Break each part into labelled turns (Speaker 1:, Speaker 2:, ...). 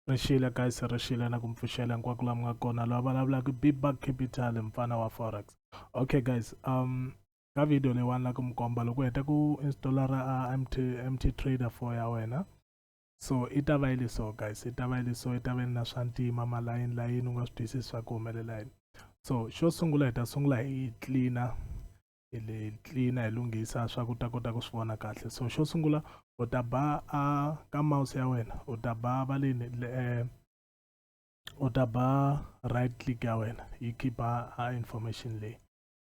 Speaker 1: ri xile guys ri xile na ku mi pfuxela hinkwako laha mi nga kona loyi a vulavulaka bibak capital mfana wa forex okay guys um ka video leyiwani la ku mi komba loko u heta ku installa ra mt mt trader for ya wena so i ta va yi liso guys i ta va yi liso i ta va ni na swa ntima malayini layini u nga swi twisisi swa ku humelela yini so xo sungula hi ta sungula hi cleaner hi le tlilina hi lunghisa swa ku ta kota ku swi vona kahle so xo sungula u ta ba a ka mouse ya wena u ta ba va leni eh, u ta ba right click ya wena yi khipa a information leyi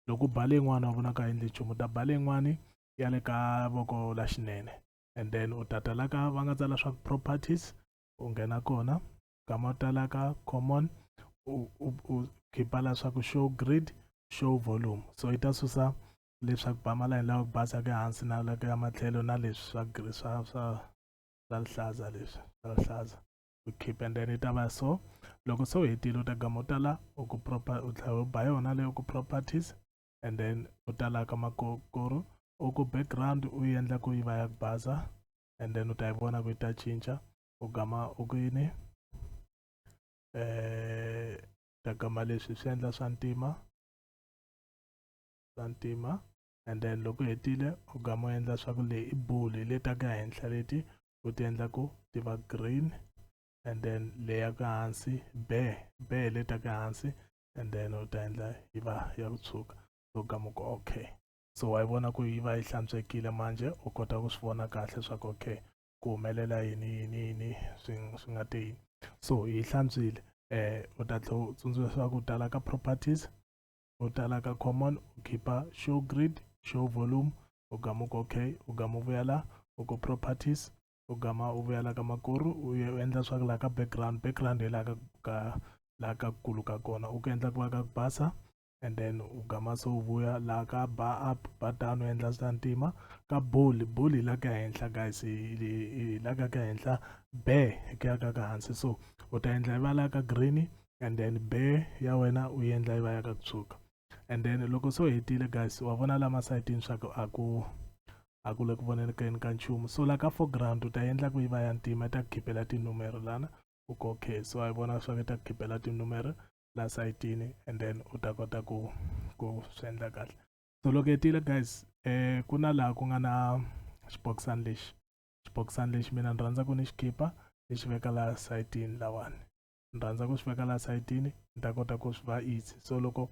Speaker 1: loko u ba leyin'wana u vonaka endli nchumu u ta ba leyin'wani ya le ka voko la xinene and then u ta ta la ka va nga tsala swa properties u nghena kona nkama wo talaka common u, u, u khipa la swa ku show grid show volume so yi ta susa leswaku ba malayini lawa ku basa ke hansi na la ya matlhelo na leswi swa swa swa swa rihlaza leswi swa rihlaza u khip and then yi ta va so loko se u hetile u ta gama u ta la u ku proper u tlhela u ba yona leyo ku properties and then u ta la ka makokoro u ku background u yi endla ku yi va ya ku basa and then u ta yi vona ku yi ta cinca u gama u ku yini eh ta gama leswi swi endla swa ntima swa ntima and then loko hetile u gama u endla swa ku leyi i bulu hi leta ka henhla leti u ti endla ku ti va green and then leya ka hansi be be hi leta ka hansi and then u ta endla yi va ya ku tshuka so gama ku okay so wa yi vona ku yi va yi hlantswekile manje u kota ku swi vona kahle swa ku okay ku humelela yini yini yini swi swi nga te yini so hi hlantswile eh u ta tlhe u tsundzuxa ku tala ka properties u tala ka common u khipa show grid show volume u gama ku okay u gama u vuya la u ku properties u gama u vuya la ka makuru u ye u endla swa ku laha ka background background hi laha ka ka laha ka kulu ka kona u ku endla ku va ka ku basa and then u gama se u vuya laha ka bar up bar down u endla swa ntima ka bowl bowl hi la ka henhla guys hi la ka ka henhla be hi ku ya ka ka hansi so u ta endla yi va la ka green and then be ya wena u yi endla yi va ya ka ku tshuka and then loko se u hetile guys wa vona la masayitini swa ku a ku a ku le ku vonelekeni ka nchumu so la ka foreground u ta endla ku yi va ya ntima yi ta ku khipela tinumero lana u kokhe so a yi vona swa ku yi ta ku khipela tinumero la sayitini and then u ta kota ku ku swi endla kahle so loko hetile guys eh ku na laha ku nga na xibokisana lexi xibokisana lexi mina ni rhandza ku ni xi khipa ni xi veka laha sayitini lawani ni rhandza ku swi veka laha sayitini ni ta kota ku swi va easy so loko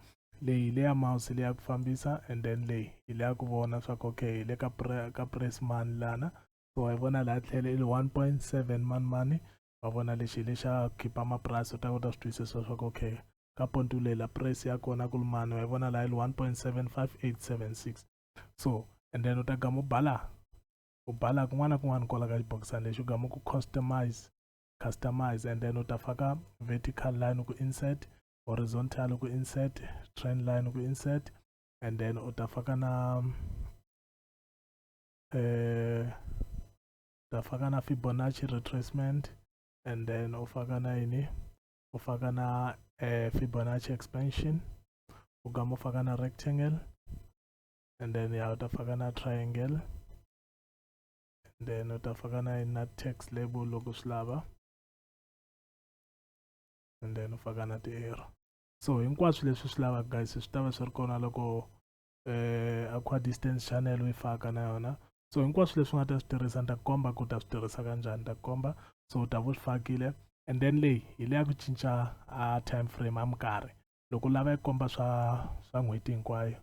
Speaker 1: leyi le ya mouse le ya ku fambisa and then leyi hi le ya ku vona swa ku okay hi le ka ka press mani lana so hi vona laha tlhelo i le 1.7 mani mani va vona lexi hi lexa khipa mapurasi u ta kota swi twisisa swa ku okay ka pontulela price ya kona ku lumani wa yi vona laha yi li 1.75876 so and then u ta gama u bala u bala kun'wana na kun'wana kwala ka xibokisana lexi u gama ku customize customize and then u ta faka vertical line ku insert horizontal ku insert trend line ku insert and then u ta faka na eh utafaka na fibonacci retracement and then ufaka na yini ufaka na uh, fibonacci expansion ugama ufaka na rectangle and then ya utafaka na triangle and then utafaka na na text label loko swi lava and then ufaka na ti-arrow so hinkwaswo leswi swi lavaka guys swi ta va swi ri kona loko eh, aqua distance channel u yi faka na yona so hinkwaswo leswi nga ta swi tirhisa ni ta komba ku ta swi tirhisa kanjhani ni ta komba so u ta va u swi fakile and then leyi hi leya ku cinca a time frame a mikarhi loko u lava yi komba swa swa n'hweti hinkwayo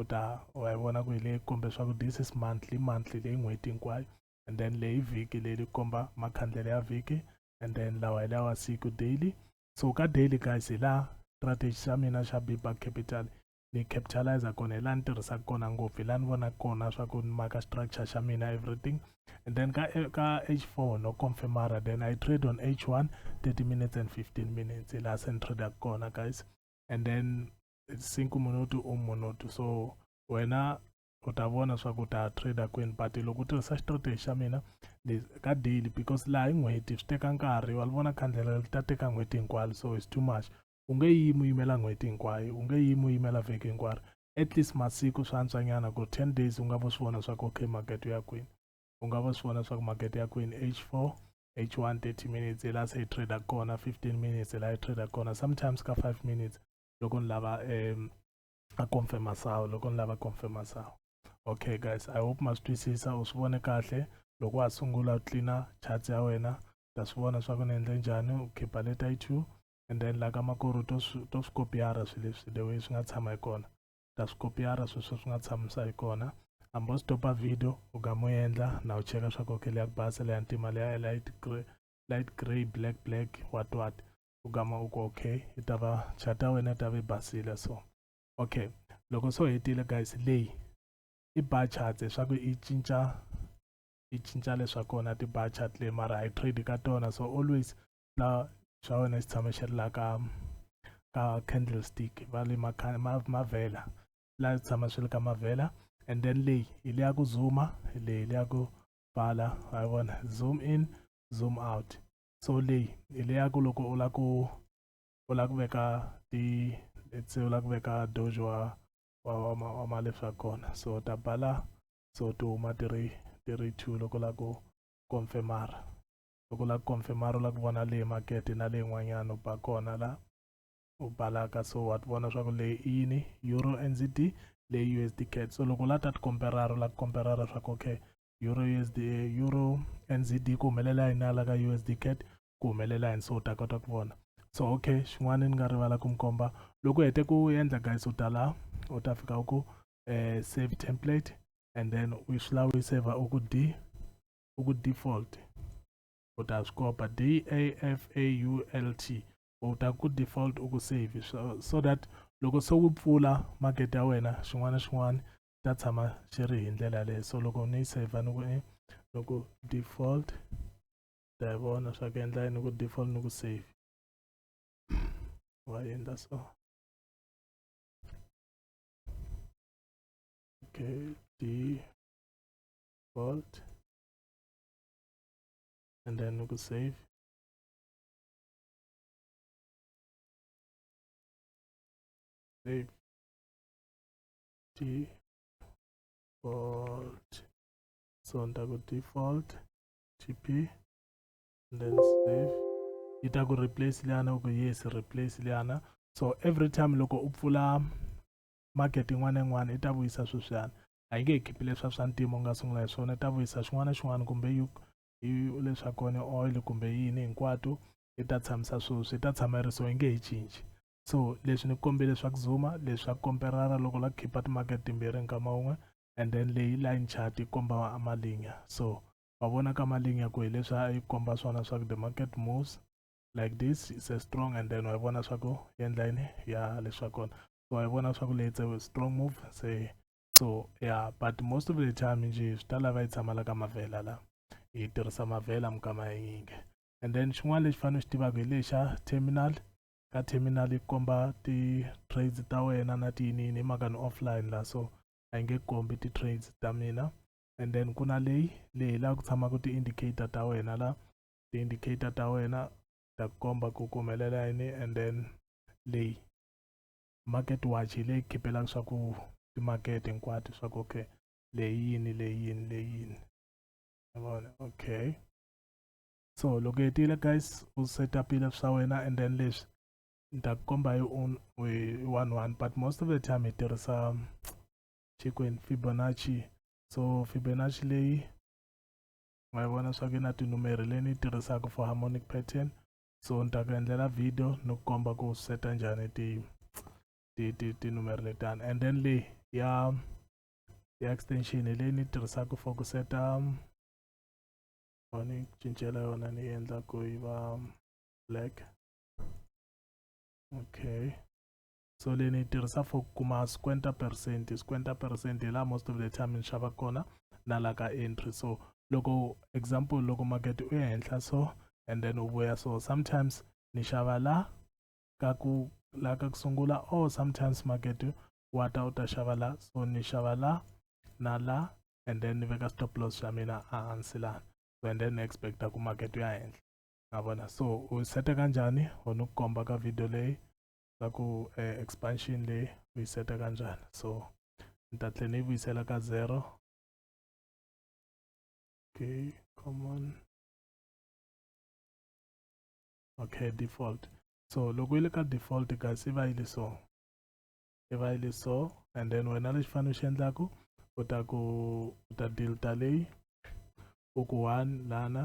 Speaker 1: u ta wa yi vona ku hi leyi kombe swa ku this is monthly monthly leyi n'hweti hinkwayo and then leyi vhiki leyi li komba makhandlele ya vhiki and then lawa hi lawa siku daily so ka daily guys hi laha strategy xa mina xa bibag capital ni capitalizer kona hi laha ni tirhisaka kona ngopfu hi laha ni vonaka kona swa ku ni maka structure xa mina everything and then ka ka h4 no confirmara then i trade on h1 30 minutes and 15 minutes hi laha se ni tradaka kona guys and then sinku minuti u minuti so wena u ta vona swa ku ta trader kwini but loko u tirhisa strategy xa mina ka daily because laha hi n'hweti swi teka nkarhi wa li vona khandlela li ta teka n'hweti hinkwayo so it's too much u nge yimi u yimela n'hweti hinkwayo u nge yimi u yimela vhiki hinkwaro at least masiku swa antswanyana ku ten days u nga vo swi vona swa ku okay makete ya kwini u nga vo swi vona swa ku makete ya kwini h four h one thirty minutes hi laha se hi trader kona fifteen minutes hi laha hi trader kona sometimes ka five minutes loko ni lava um a confirma sawu loko ni lava confirma sawu okay guys i hope ma swi twisisa u swi vone kahle loko wa ha sungula u tlina charts ya wena ta swi vona swa ku ni endle njhani u khipa leta yi two and then la ka makoro to to swi kopiyara swi leswi the way swi nga tshama hi kona ta swi kopiyara swi swi swi nga tshamisa hi kona hambi u stopa video u ga mu endla na u cheka swa ku okay leya ku basa leya ntima leya light grey light grey black black what what u gama u ku okay yi ta va chat ya wena yi ta va yi basile so okay loko so hetile guys leyi i bar charts leswaku i cinca i cinca leswa kona ti-bar chart leyi mara hi trade ka tona so always na swa wena swi tshama swi ri laha ka ka candlestick va le mavhela laha swi tshama swi ri ka mavhela and then leyi hi le ya ku zuma leyi le ya ku pfala wa vona zoom in zoom out so leyi hi le ya ku loko u la ku u la ku veka ti let's say u la ku veka dojo wa wa wa wa malefsi wa kona so ta bala so ti huma ti ri ti ri two loko u la ku confirmara loko la confirmar u la ku vona leyi market na leyin'wanyana u ba kona la u balaka so wa ti vona swa ku leyi i yini euro nzd leyi usd cat so loko la ta ti komperara u la ku komperara swa ku okay euro usd euro nzd ku humelela yini ala ka usd cat ku humelela yini so u ta kota ku vona so okay xin'wana ni nga rivala ku mi komba loko u hete ku endla guys u ta la u ta fika u ku um save template and then u swi lava u yi saver u ku d uku default u ta swi kopa d a f a u l t u ta ku default u ku save so, so that loko se wu pfula market ya wena xin'wana na xin'wana ta tshama xi ri hi ndlela leyo so loko ni yi saver ni ku eh, ni ku default ta yi vona swa ku endla ni ku default ni ku save wa endla so okay d default and then we could save save default so on go default tp and then save yi ta ku replace liyana ku yes replace liyana so every time loko u pfula market yin'wana na yin'wana yi ta vuyisa sweswiyana a yi nge hi khipi leswa swa ntima u nga sungula hi swona ta vuyisa xin'wana na xin'wana kumbe yi leswa kona oil kumbe yini hinkwato yi ta tshamisa sweswi yi ta tshama yi ri so yi nge hi cinci so leswi ni kombe leswaku zuma leswa komperara loko la khipa timakete timbirhi nkama wun'we and then leyi line chart yi komba amalinya so wa vona ka malinya ku hi leswi a yi komba swona swa ku the market moves like this is a strong and then wa vona swa ku endla yini ya leswa kona so wa vona swa ku leyi a strong move se so yeah but most of the time nje swi ta lava yi tshama la ka mavhela la hi tirhisa mavhela mukama ya yinge and then xin'wana lexi fanele xi tivaka hi lexa terminal ka terminal yi komba ti-trades ta wena na tiyinini hi mhaka ni offline la so a yi nge kombi ti-trades ta mina and then ku na leyi leyi laha ku tshamaka ti-indicator ta wena la ti-indicator ta wena ta komba ku ku humelela yini and then leyi market watch hi leyi khipelaka swa ku timakete hinkwato swa ku okay leyi yini leyi yini leyi yini yavona okay so loko hetile guys u setupile swa wena and then leswi ni ta ku komba hi one one but most of the time hi tirhisa chikwini fibonacci so fibonacci leyi ma vona swa ku na tinumeri leyi ni tirhisaka for harmonic pattern so ni ta ku endlela video ni ku komba ku seta njhani ti ti ti tinumeri letani and then leyi ya ya extension leyi ni tirhisaka for ku seta ni cincela yona ni endla ku yi va black okay so leyi ni yi tirhisa for ku kuma squenta percent squenta percent hi laha most of the time ni xava kona na la ka entry so loko example loko market u ya henhla so and then u vuya so sometimes ni xava la ka ku la ka ku sungula or sometimes market wa ta u ta xava la so ni xava la na la and then ni veka stop loss xa mina ehansi lana so and then ni expecta ku market u ya henhla na vona so u seta kanjhani ho ni ku komba ka video leyi va ku eh, expansion leyi u yi seta kanjani so ni ta tlhe ni yi vuyisela ka zero okay come on okay default so loko yi le ka default guys yi va yi le so yi va yi le so and then wena lexi fanele u xi endlaku u ta ku u ta delta leyi u ku one lana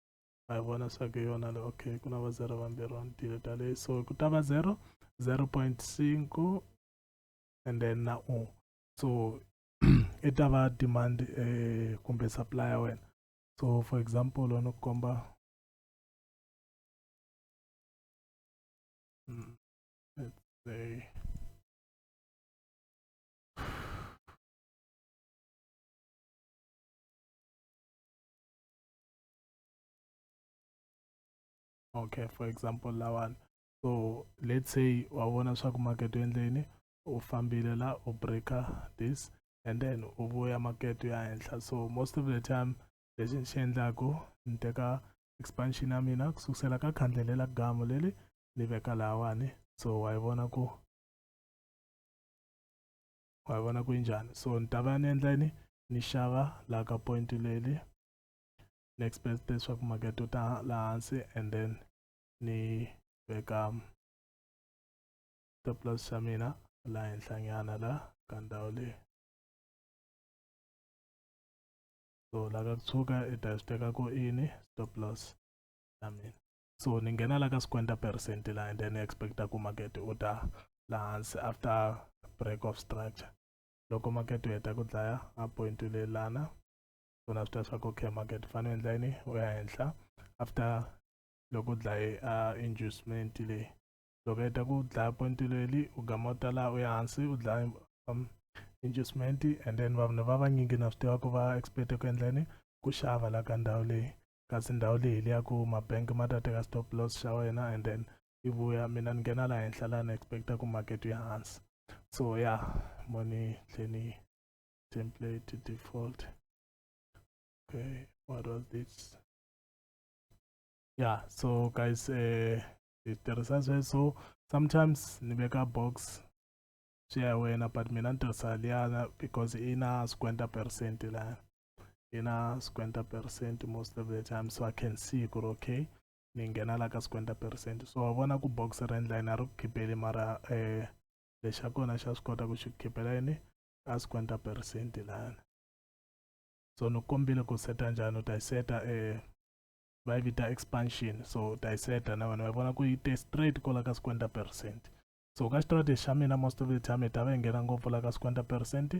Speaker 1: va yi vona swa ku hi yona le okay ku na va zero vambirhi va ni tile tale so ku ta va zero zero point cinco and then na u so i ta va demand eh, kumbe supply ya wena so for example ni ku komba mm, let's say okay for example lawani so let's say wa vona swa ku market u endleni u fambile la u breaker this and then u vuya market u ya henhla so most of the time lexi ni xi endlaku ni teka expansion ya mina ku sukusela ka khandle lela gamu leli ni veka lahawani so wa yi vona ku wa yi vona ku yi njhani so ni ta va ni endla yini ni xava laha ka point leli next best leswaku makete u ta la hansi and then ni veka stop loss xa mina la henhlanyana la ka ndhawu leyi so la ka kutshuka i ta swi teka ku ini stop loss ya mina so ni nghena la ka swikwenta percent la and then ni expecta ku makete u ta la hansi after break of structure loko makete u heta ku dlaya a point u lelana swona swi ta swa ku okay market fane endla yini u ya henhla after loko u dlaye a inducement leyi loko heta ku dlaya point leli u gama u ta laha u ya hansi u dlaya um, inducement and then vanhu va vanyingi na swi tiva ku va expect ku endla yini ku xava la ka ndhawu leyi kasi ndhawu leyi leya ku mabank ma ta teka stop loss xa wena and then yi vuya mina ni nghena laha henhla laha ni expecta ku market yi hansi so ya mo ni tlhe ni template to default okay what was this yeah so guys uh eh, tirhisa sweswo sometimes ni veka box swi ya wena but mina ni tirhisa liyana because i na squenta percent laya i na squenta percent most of the time so i can see ku ri okay ni nghena la ka squenta percent so wa vona ku box ra endla yini a ri ku khipeli mara um eh, lexa kona xa swi kota ku xi ku khipela yini ka 50 percent lana so ni kombile ku seta njhani u ta yi seta eh, va yi vita expansion so u ta yi seta na vanhu va vona ku yi te straight kola ka 50 percent so ka strategy xa mina most of the time ta va yi nghena ngopfu la ka 50 percent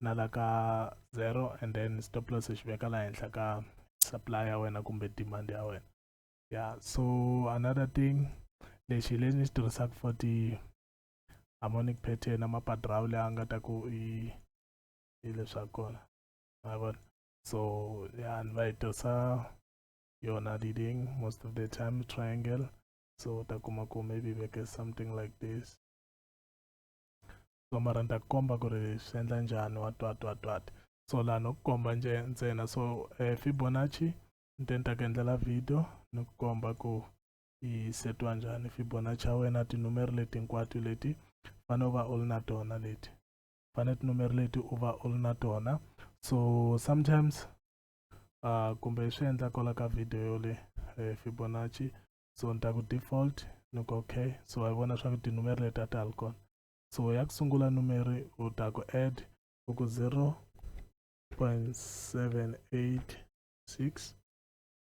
Speaker 1: na la ka zero and then stop loss xi veka la henhla ka supply ya wena kumbe demand ya wena yeah so another thing lexi lexi ni xi tirhisaka for ti harmonic pattern na mapadrawu leyi a nga ta ku i i leswa kona ma vona so ya ni va yi tirhisa yona leading most of the time triangle so u ta kuma ku maybe veke something like this so mara ni ta ku komba ku ri swi endla njhani wa twa twa twati so laha no ku komba nje ntsena so eh, fibonacci ni te ni ta ku endlela video ni ku komba ku yi setiwa njhani fibonacci ya wena tinumeri leti hinkwato leti fane u va u ri na tona leti fane tinumeri leti u va u ri na tona so sometimes uh, kumbe swi endla kola ka video yo le eh, fibonacci so ni ta ku default ni ku okay so wa vona swa ku tinumeri leti a ti hali kona so ya ku sungula numeri u ta ku add u ku 0 0.786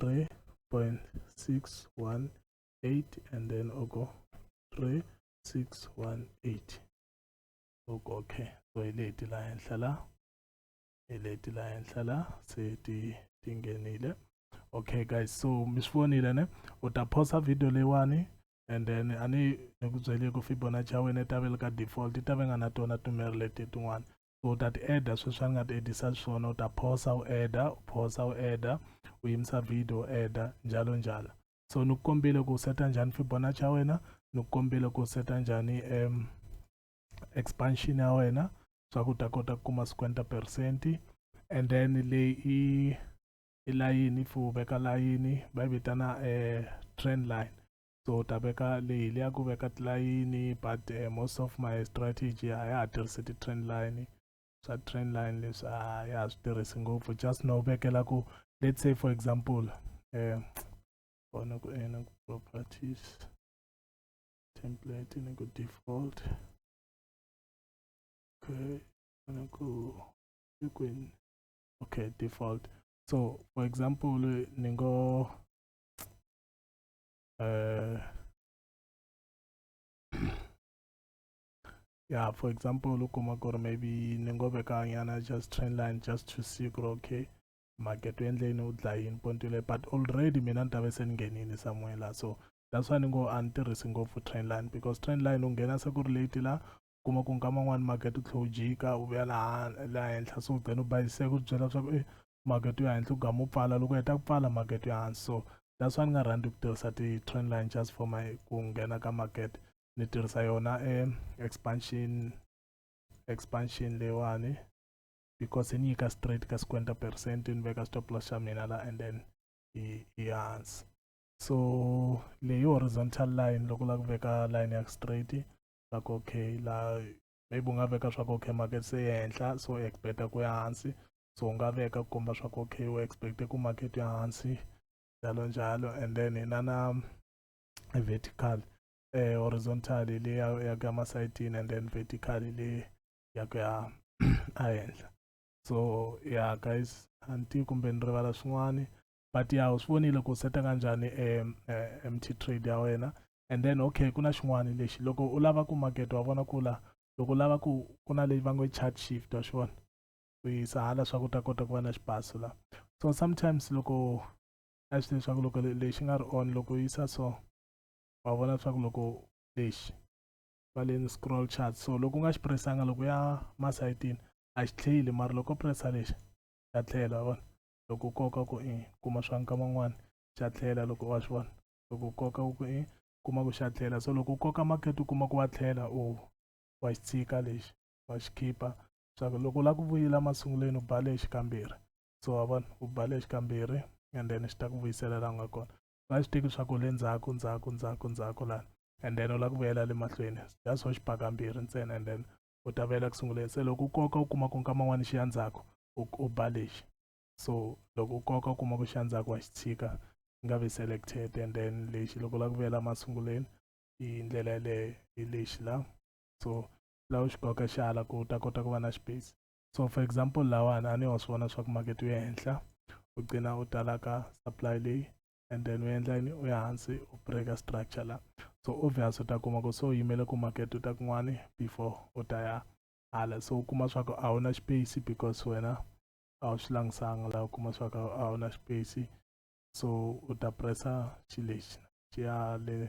Speaker 1: 3.618 and then oko 3618 oko ke so ileti la henhla la ileti la henhla la se ti tingenile okay guys so mi swi vonile ne u ta phosa video leyiwani and then a ni ni ku byele ku fibonacci ya wena yi ta ve le ka default yi ta ve nga na tona tumeri leti tin'wana u ta ti-adda sweswi a ni nga ti-addisa xiswona u ta phosa u adda u phosa u adda u yimisa video u adda njalo njalo so ni ku kombile ku seta njhani fibonacci ya wena ni ku kombile ku seta njhani um expansion ya wena swa ku ta kota ku kuma 50 percent and then leyi i i layini if u veka layini va yi vitana um trend line so u ta veka leyi leya ku veka tilayini but uh, most of my strategy a ya ha tirhisi ti-trend line swa trend line leswi a ya ha swi tirhisi ngopfu just no vekela ku let's say for example um kona ku ena ku properties template ni ku default okay kona ku kwini okay default so for example ni ngo uh, yeah for example look or maybe ni ngo veka nyana just trend line just to see ku okay market u endle yini u dlaya yini ponto leyi but already mina ni ta ve se ni nghenini somewhere la so that's why ni ngo a ni tirhisi ngopfu trend line because trend line u nghena se ku ri late la kuma ku nkama n'wani market u tlhe u jika u vuya laha laha henhla so then u bayise ku byela leswaku e makete yo henhla u ga mu pfala loko heta ku pfala makete yo hansi so that's why ni nga rhandzi ku tirhisa ti-trend line just for my ku nghena ka makete ni tirhisa yona e expansion expansion leyiwani because yi ni nyika straight ka sikwenta percent ni veka stop loss xa mina la and then yi ya hansi so leyi horizontal line loko u lava ku veka line ya straight la ku okay la maybe u nga veka swa ku okay market se ya henhla so u expecta ku ya hansi so u nga veka ku komba swa ku okay u expecte ku market ya hansi njalo njalo and then hi na na vertical eh horizontal le ya ya ka masayitini and then vertical le ya ku ya ehenhla so ya guys anti kumbe ni rivala swin'wana but ya u swi vonile ku seta kanjhani e, e, e mt trade ya wena and then okay ku na xin'wana lexi loko u lava ku makete wa vona ku la loko u lava ku ku na leyi va ngo chart shift wa swi vona u yisa hala swa ku ta kota ku va na xibaso la so sometimes loko a swi leswaku loko lexi nga ri on loko u yisa so wa vona leswaku loko lexi va le scroll chart so loko u nga xi presanga loko ya masayitini a xi tlheli mara loko pressa lexi xa tlhela wa vona loko u koka ku i kuma swa nkama n'wana xa tlhela loko wa swi vona loko u koka ku i kuma ku xa tlhela so loko u koka market u kuma ku wa tlhela u wa xi tshika lexi wa xi khipa swa ku loko u lava ku vuyela masungulweni u ba lexi kambirhi so wa vona u ba lexi kambirhi and then xi ta ku vuyisela laha u nga kona u nga swi teki swa ku le ndzhaku ndzhaku ndzhaku ndzhaku lana and then u lava ku vuyela le mahlweni just ho xi ba kambirhi ntsena and then u ta vuyela ku sunguleni se loko u koka u kuma ku nkama n'wana xi ya ndzhaku u, u ba lexi so loko u koka u kuma ku xi ya ndzhaku wa xi tshika xi nga vi selected and then lexi loko u lava ku vuyela masunguleni hi ndlela yaleyo hi lexi la so laha u xi koka xi hala ku u ta kota ku va na space so for example lawani a ni wa swi vona swa ku makete wu ya henhla u gcina u talaka supply leyi and then u endla yini u ya hansi u breaka structure la so obvious u ta kuma ku so yimele ku market u ta kun'wani before u ta ya hala so u kuma swa ku a wu na space because wena a wu swi langisanga laha u kuma swa ku a wu na space so u ta pressa xi lexi xi ya le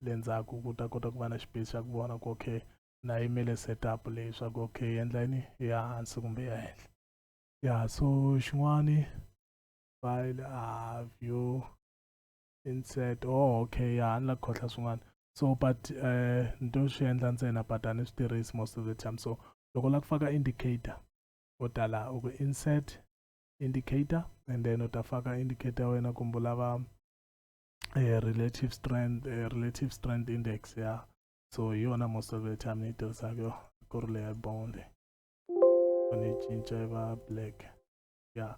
Speaker 1: le ndzhaku ku ta kota ku va na space xa ku vona ku okay na yimele setup leyi swa ku okay endla yini ya hansi kumbe ya henhla ya so xin'wani file uh, view insert oh okay ya ni la khotlha swin'wana so but um uh, ni to swi endla ntsena but a ni swi tirhisi most of the time so loko u lava ku faka indicator u ta laha u ku insert indicator and then u ta faka indicator wena kumbe u lava um uh, relative strength uh, relative strength index ya yeah. so hi yona most of the time ni yi tirhisaka yo ku ri leya bone leyi ni yi cinca yi va black ya yeah.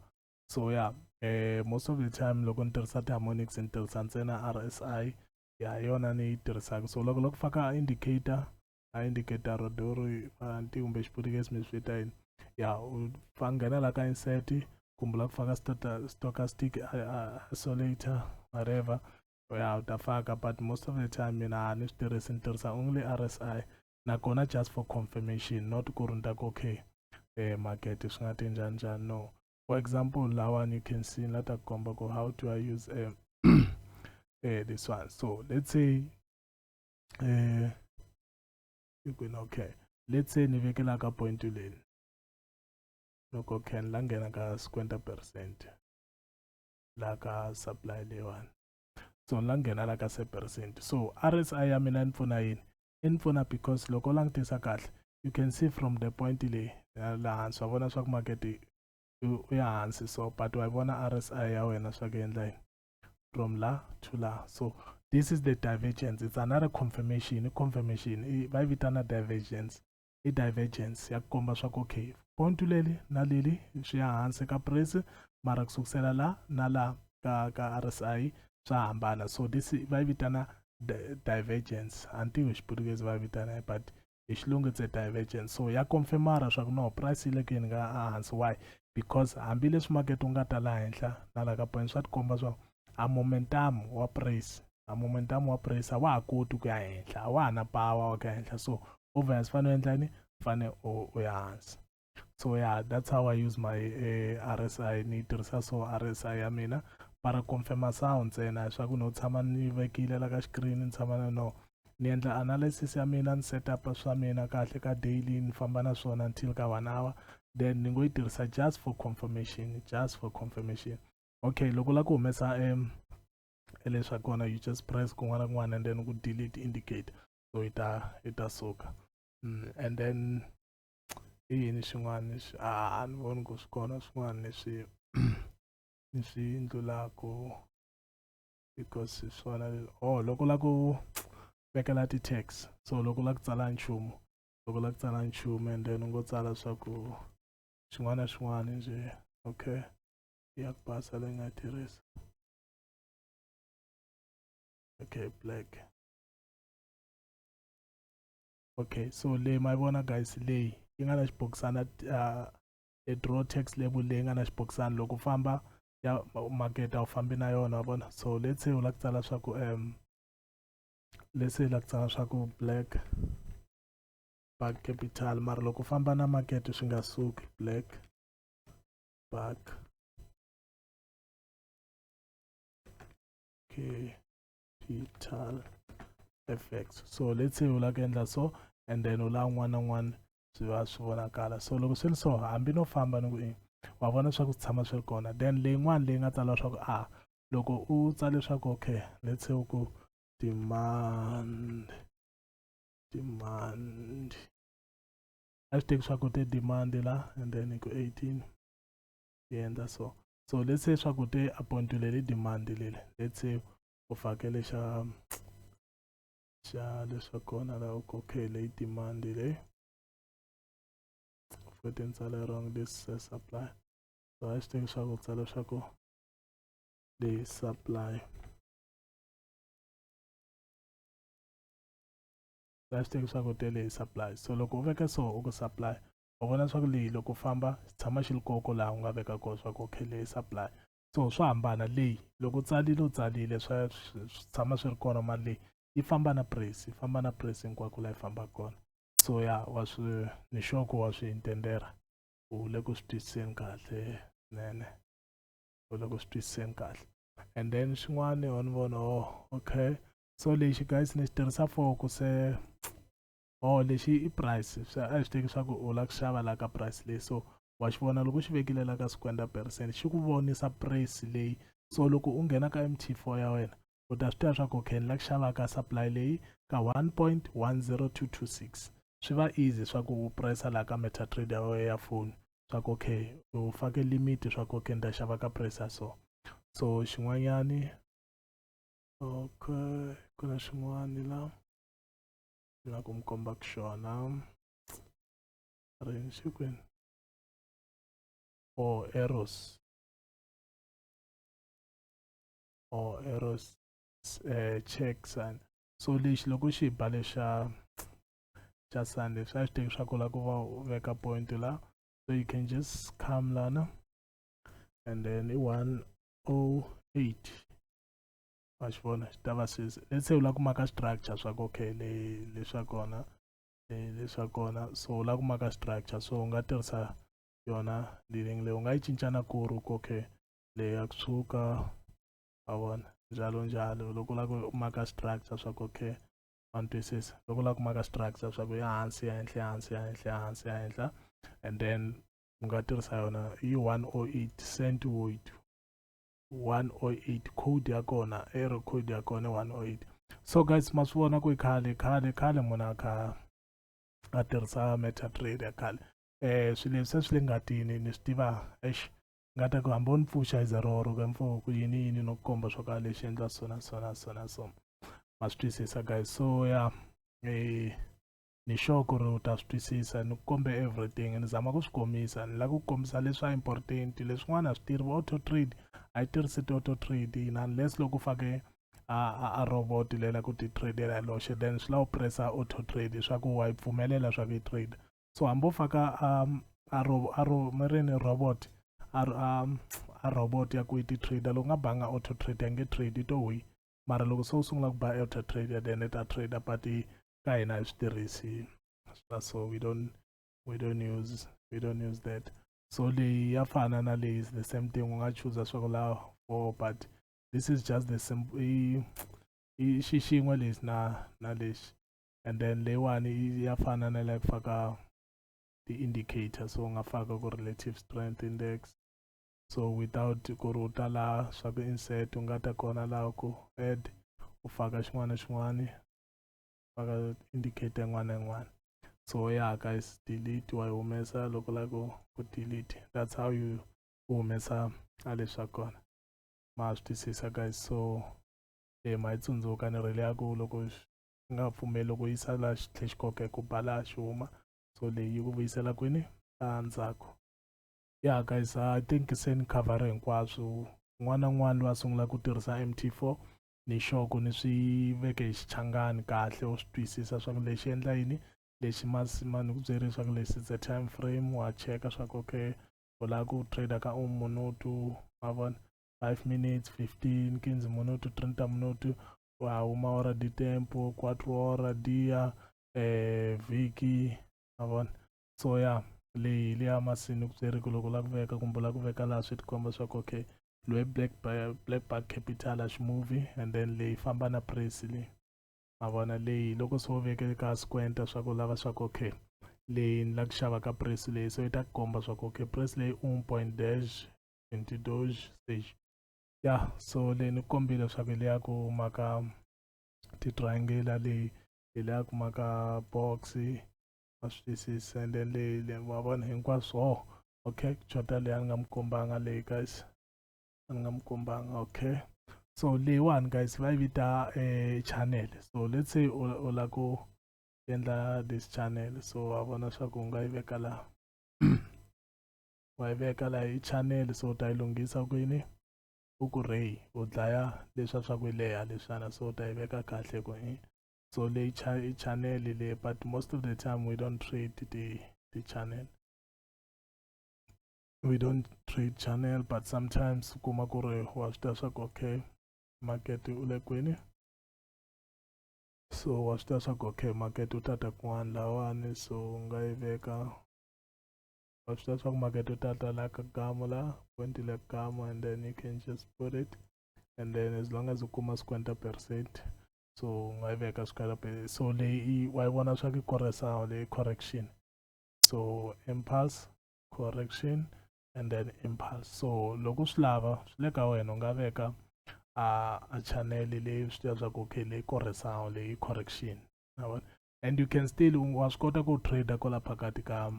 Speaker 1: so yeah eh most of the time loko ni tirhisa ti-harmonics ni tirhisa ntsena rsi ya yona ni yi tirhisaka so loko loko faka indicator a indicator rodori anti kumbe xiputukesi mi swi vita yini ya u fa nghena la ka insert kumbe la ku faka stochastic isolator whatever ya u ta faka but most of the time mina a ni swi tirhisi ni tirhisa only rsi nakona just for confirmation not ku ri ni ta ku okay eh market swi nga te njhani njhani no for example lawani you can see la ta komba ku how do i use eh, eh this one so let's say eh you can okay let's say ni vekela ka point leni loko can la nghena ka 50 percent la ka supply leyiwani so la nghena la ka se percent so rsi ya mina ni pfuna yini i ni pfuna because loko u langutisa kahle you can see from the point leyi laha hansi wa vona swa ku makete u ya hansi so but wa vona rsi ya wena swa ku endla yini from la to la so this is the divergence it's another confirmation i confirmation va yi vitana divergence i divergence ya ku komba swa ku okay point leli na leli swi ya hansi ka price mara ku sukusela la na la ka ka RSI swa hambana so this va yi vitana divergence a ni tivi xiputukezi va yi vitana but hi xilungu it's a divergence so ya confirmara swa ku no price yi le ku yeni ka hansi why because hambileswi makete wu nga ta la henhla na la ka point swa tikomba swa a momentum wa praise a momentum wa praise a wa ha koti ku ya henhla a wa ha na power wa ku ya henhla so obvious fanele u endla yini fanele u ya hansi so yeah that's how i use my uh, eh, rsi ni tirhisa so rsi ya mina para confirma sound ntsena leswaku no tshama ni vekile la ka xikirini ni tshama na no ni endla analysis ya mina ni set up swa mina kahle ka daily ni famba na swona until ka one hour then ni ngo yi tirhisa just for confirmation just for confirmation okay loko u lava ku humesa um leswa kona you just press kun'wana kun'wana and then ku delete indicate so yi ta yi ta suka mm, and then i yini xin'wana lexi a a ni voni ku swi kona swin'wana leswi ni swi ndlulaka because hi swona oh loko u lava ku vekela ti-tax so loko u lava ku tsala nchumu loko u lava ku tsala nchumu and then u ngo tsala swa ku xin'wana na xin'wana nje okay ya ku basa leyi nga tirhisa okay black okay so leyi ma yi vona guys leyi yi nga na xibokisana uh, e draw tax label leyi nga na xibokisana loko famba ya makete a wu fambi na yona wa vona so let's say u lava ku tsala swa ku um let's say u lava ku tsala swa ku black ba capital mara loko u famba na makete swi nga suki black back okay petal fx so let's say u lava ku endla so and then u lava n'wana n'wana swi va swi vonakala so loko swi ri so hambi no famba ni ku i wa vona swa ku tshama swi ri kona then leyin'wana leyi nga tsala leswaku a loko u tsale leswaku okay let's say u ku demand demand a swi teki swa ku te demand la and then ku 18 yi endla so so let's say swa ku te appoint leli demand leli let's say u fakele xa xa leswa kona la u kokhe leyi demand leyi futhi ni tsale wrong this uh, supply so a swi teki swa ku tsala swa ku leyi supply va swi tiva leswaku te leyi supply so loko u veka so u ku supply u vona leswaku leyi loko famba xi tshama xi ri koko laha u nga veka kona swa ku okay leyi supply so swa hambana leyi loko u tsalile u tsalile swa swi tshama swi ri kona mali leyi yi famba na price yi famba na price hinkwako laha yi fambaka kona so ya wa swi ni xoko wa swi intendera u le ku swi twisiseni kahle nene u le ku swi twisiseni kahle and then xin'wana ho ni vona oh okay so lexi guys ni xi tirhisa for ku se oh lexi i price swa a swi teki swa ku u lava ku xava la ka price leyi so wa xi vona loko u xi vekile la ka swikwenda percent xi ku vonisa price leyi so loko u nghena ka mt4 ya wena u ta swi tiva swa ku okay ni lava ku xava ka supply leyi ka 1.10226 swi va easy swa ku u pressa la ka metatrade ya wena ya foni swa ku okay u fake limit swa ku okay ni ta xava ka price ya so so xin'wanyani okay ku na xin'wani la la ku mi komba ku xona rini xi kwini or eros or eros eh, check sana so lexi loko xi ba lexa xa sunday swa xi teki swa ku la ku va u veka point la so you can just come lana and then i 108 wa xi vona xi ta va sweswi let's say u lava ku maka structure swa ku okay le le swa kona le swa kona so u lava ku maka structure so u nga tirhisa yona leading leyi u nga yi cincana ku ri ku okay leyi ya kusuka wa vona njalo njalo loko u lava ku maka structure swa ku okay wa ni twisisa loko u lava ku maka structure swa ku ya hansi ya henhla ya hansi ya henhla ya hansi ya henhla and then u nga tirhisa yona yi one o oh eight cent woid 108 code ya kona error code ya kona 108 so guys ma swi vona ku khale khale khale munhu a kha a tirhisa metatrade ya khale eh swilo leswi a swi le ngatini ni swi tiva eish ngata ku hamba u ni pfuxa iza roro ka mfo ku yini yini no komba swo ka lexi endla sona sona sona so ma swi twisisa guys so ya yeah. eh ni sure ku ri u ta swi twisisa ni ku kombe everything ni zama ku swi kombisa ni lava ku kombisa leswa important leswin'wana a swi tirhi auto trade a yi tirhisi ti-auto trade yini unless loko u fake a, a, a robot leyi la ku ti tradela hi loxe then swi lava u pressa auto trade leswaku wa yi pfumelela swa ku yi trade so hambi u faka um, a, ro, a ro, mirini robot a, a, a robot ya ku yi ti trader loko nga banga auto trade ya nge trade yi to wi mara loko se u sungula ku ba auto trader then i ta trader but ka hina a hi swi tirhisi swa so we don't we don't use we don't use that so leyi ya fana na leyi is the same thing u nga chuza swa ku la four but this is just the simple i xi xin'we lexi na na lexi and then leyiwani ya fana na la ku faka ti-indicator so u nga faka ku relative strength index so without ku ri u ta laha swa ku insert u nga ta kona laha ku add u faka xin'wana na xin'wana va ka indicate yin'wana na yin'wana so ya guys delete wa yi humesa loko la ku ku delete that's how you humesa a leswi swa kona ma swi twisisa guys so e ma yi tsundzuka ni rhele ya ku loko nga pfumeli loko yi sala xi tlhe xi koke ku bala xi huma so leyi ku vuyisela kwini a ndzhaku ya guys i think se ni cover hinkwaswo n'wana n'wana loyi a sungula ku tirhisa mt4 ni xoko ni swi veke hi xichangani kahle u swi twisisa swa ku lexi endla yini lexi masima ni ku byeri swa ku lexi the time frame wa cheka swa ku okay u lava ku trader ka un minutu ma vona five minutes fifteen kinzi minutu trenta minutu wa huma ora di tempo quattro ora dia eh vhiki ma vona so ya leyi leya masini kubyeri ku loko la ku veka kumbe la ku veka laha swi tikomba swa ku okay loyi black black bag capital a ximovhi and then leyi famba na presi leyi ma vona leyi loko se wo veke ka squenta swa ku lava swa ku okay leyi ni la ku xava ka presi leyi so yi ta ku komba swa ku okay presi leyi un point dash twenty doge stage ya so leyi ni kombile swa ku hi leya ku maka ti-triangula leyi hi leya ku maka box va swi twisisa and then leyi le wa vona hinkwaswo oh okay chota leyi a ni nga mi kombanga leyi guys a ni nga mi kombanga okay so leyiwani guys va yi vita eh, channel so let's say u la ku endla this channel so wa vona swa ku u nga yi veka laha wa yi veka laha hi channel so u ta yi lunghisa kwini u ku ray u dlaya leswa swa ku yi leha leswana so u ta yi veka kahle ku hi eh, so le cha channel le but most of the time we don't trade the the channel we don't trade channel but sometimes kuma ku ri wa swi tiva swa ku okay market u le kwini so wa swi tiva swa ku okay market u ta ta kun'wana lawani so u nga yi veka wa swi tiva swa ku market u ta ta la ka gamu la point le gamu and then you can just put it and then as long as u kuma swikwenta percent so u nga yi veka swikwela so leyi wa yi vona swa ku koresawo leyi correction so impulse correction and then impulse so loko swi lava swi le ka wena u nga veka a a channel leyi swi tiva swa ku okay leyi koresawo leyi correction and you can still wa swi kota ku trader kwala phakati ka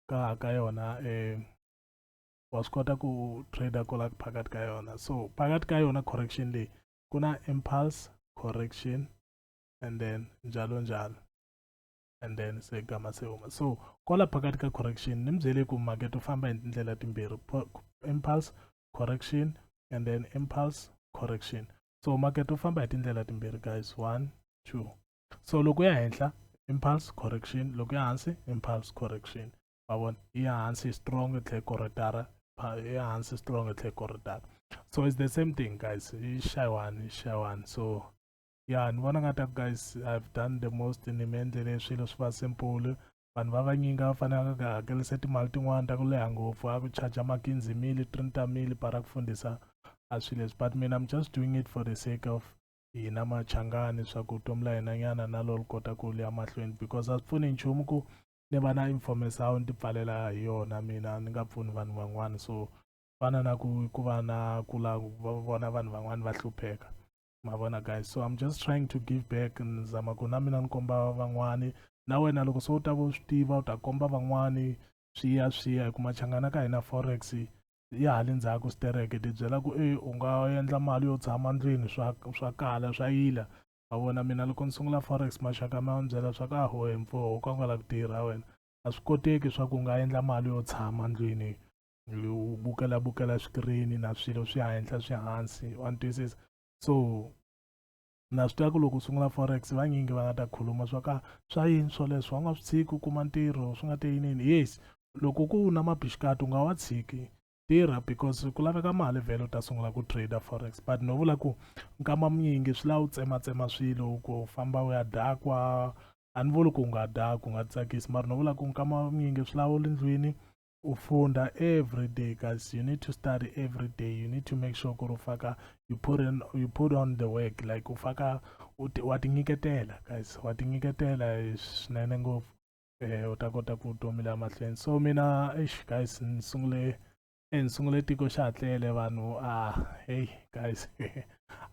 Speaker 1: ka ka yona um wa swi kota ku trader kola phakati ka yona so phakati ka yona correction leyi ku na impulse correction and then njalo njalo and then se gama se huma so kola phakati ka correction ni mi byele ku market u famba hi tindlela timbirhi impulse correction and then impulse correction so market u famba hi tindlela timbirhi guys one two so loko ya henhla impulse correction loko ya hansi impulse correction ma vona yi ya hansi yi strong yi tlhe corridara yi ya hansi strong yi tlhe corridara so it's the same thing guys yi xayiwani yi xayiwani so ya ni vona nga ta ku guys i've done the most ni mi endlele swilo swi va simple vanhu va vanyinga va fanelaka ku hakelisa timali tin'wana ta ku leha ngopfu a ku charge makinzi mili trinta mili para ku fundisa a swi leswi but mina i'm just doing it for the sake of hina machangani swa ku vutomi la hina nyana na lolu kota ku liya mahlweni because a swi pfuni nchumu ku ni va na information ni ti pfalela hi yona mina ni nga pfuni vanhu van'wana so fana na ku ku va na ku la va vona vanhu van'wana va hlupheka ma vona guys so i'm just trying to give back ni zama ku na mina ni komba van'wani na wena loko se u ta va u swi tiva u ta komba van'wani swi ya swi ya hi ku machangana ka hina forex ya ha le ndzhaku stereke ti byela ku e u nga endla mali yo tshama ndlwini swa swa kala swa yila ma vona mina loko ni sungula forex maxaka ma ni byela swa ku a hohe mfuwo u ka u nga la ku tirha wena a swi koteki swa ku u nga endla mali yo tshama ndlwini u bukela bukela swikirini na swilo swi henhla swi hansi wa ni twisisa so na swi tiva ku loko u sungula forex vanyingi va nga ta khuluma swa ka swa yini swoleswo u nga swi tshiki u kuma ntirho swi nga te yinini yes loko ku na mabixikati u nga wa tshiki tirha because ku laveka mali vhele u ta sungula ku trader forex but no vula ku nkama munyingi swi lava u tsematsema swilo ku famba u ya dakwa a ni vuli ku nga dya ku nga tsakisi mara no vula ku nkama munyingi swi lava u le ndlwini u funda every day guys you need to study every day you need to make sure ku ri u faka you put, in, you put on the work like u faka wa tinyiketela guys wa tinyiketela swinene ngopfu eh u ta kota ku vutomi la mahlweni so mina eish guys ni sungule eh ni sungule tiko xa ha tlele vanhu a ah, hey guys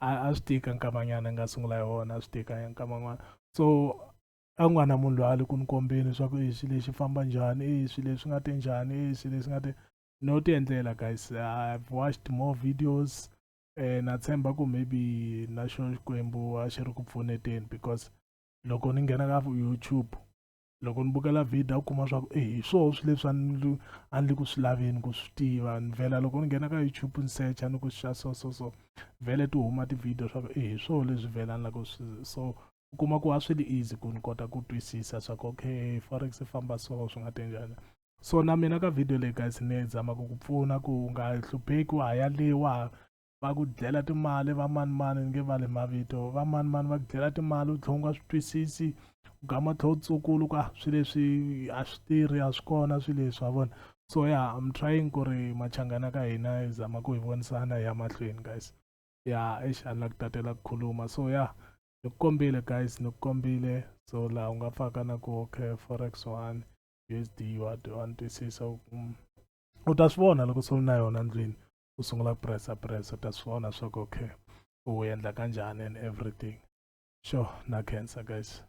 Speaker 1: a a swi tika nkamanyana nga sungula hi wona a swi tika ya nkaman'wana so a ku nga na munhu loyi a le ku ni kombeni leswaku i swilo leswi famba njhani i swilo leswi nga te njhani i swilo leswi nga te no ti endlela guys i've watched more videos eh na tshemba ku maybe na xo xikwembu a xi ri ku pfuneteni because loko ni nghena ka youtube loko ni bukela video u kuma swa ku e hi swoho swi leswi a ni a ni le ku swi laveni ku swi tiva ni vhela loko ni nghena ka youtube ni searcha ni ku xa so so so vhele ti huma ti-video swa ku e hi swoho leswi vhela ni la ku swi so u kuma ku a swi ri easy ku ni kota ku twisisa swa ku okay forex i famba so swi nga te njhani so na mina ka video leyi guys ni zama ku ku pfuna ku u nga hlupheki wa ha ya le wa va ku dlela timali va manimani ni nge vali mavito va manimani va ku dlela timali u tlhela u nga swi twisisi u gama u tlhela u tsukulu ku a ah, swi leswi a swi tirhi a swi kona swi leswi wa vona so ya yeah, im trying ku ri machangana ka hina hi zama ku hi vonisana hi ya mahlweni guys ya yeah, exi a ni la ku tatela ku khuluma so ya yeah, ni ku kombile guys ni ku kombile so laha u nga faka na ku okay forex one u s d wa wa ni twisisa mm. u ta swi vona loko se u na yona ndlwini u sungula ku pressa pressa u ta swi vona swa ku okay u endla kanjhani and everything sure na khensa guys.